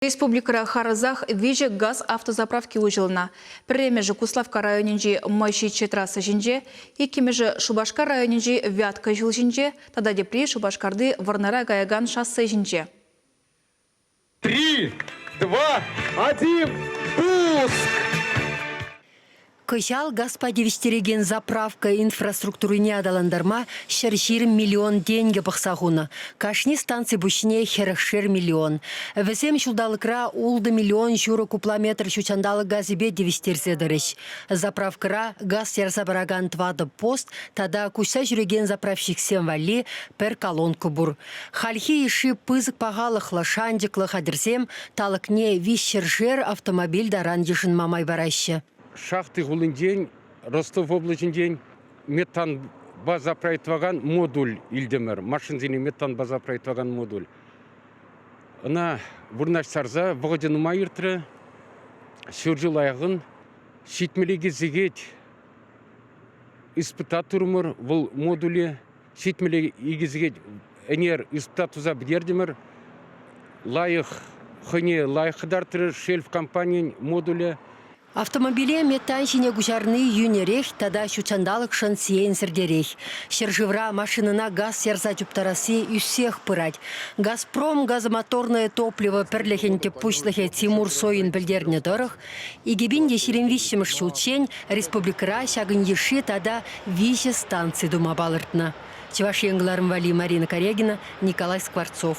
Республикӑра харӑсах виҫӗ газ автозаправки уҫӑлнӑ. Пӗрремӗшӗ Куславкка районӗнчи Мӑйҫиччӗ трасса ҫинче, иккӗмӗшӗ Шупашкар районӗнчи Вятка ҫул ҫинче тата тепри Шупашкарти Вӑрнара каякан шоссе ҫинче. Три, два, один, пуск! Кӑҫал газпа тивӗҫтерекен заправка инфраструктурине аталантарма ҫӗр ҫирӗм миллион тенкӗ пӑхса хунӑ. Кашни станци пуҫне хӗрӗхшер миллион. Вӗсем ҫулталӑкра ултӑ миллион ҫурӑ купла метр ҫут ҫанталӑк газӗпе тивӗҫтерсе тӑрӗҫ. Заправкӑра газ ярса паракан тӑватӑ пост тата куҫса ҫӳрекен заправщиксем валли пӗр колонка пур. Хальхи йышши пысӑк пахалӑхлӑ шанчӑклӑ хатӗрсем талӑкне виҫ ҫӗршер автомобиль таран йышӑнма май параҫҫӗ. Шахти хулинчен, Ростов облаҫӗнчен метан база проектовакан модуль илтӗмӗр. Машинсене метан база проектовакан модуль. Ӑна вырнаҫтарса вӑхӑчӗ нумай иртрӗ. Ҫур ҫул аякын ҫитмӗле сехет испытатурӑмӑр вӑл модуле. ҫитмӗле икӗ сехет ӗнер инспектор туса пӗтертӗмӗр. Лайӑх хӑйне лайӑх кӑтартрӗ шельф компанийӗн модулӗ. Автомобиле метан ҫине куҫарни йӳнӗрех тата ҫутҫанталӑкшӑн сиенсӗртерех. Ҫӗршывра машинӑна газ ярса чуптарасси ӳссех пырать. «Газпром» газомоторное топливо пӗрлӗхӗн тӗп пуҫлӑхӗ Тимур Сойин пӗлтернӗ тӑрӑх, Икӗ пин те ҫирӗм виҫҫӗмӗш ҫулччен республикӑра ҫакӑн йышши тата виҫӗ станци тума палӑртнӑ, Чӑваш Ен кӑларӑм валли Марина Корягина, Николай Скворцов.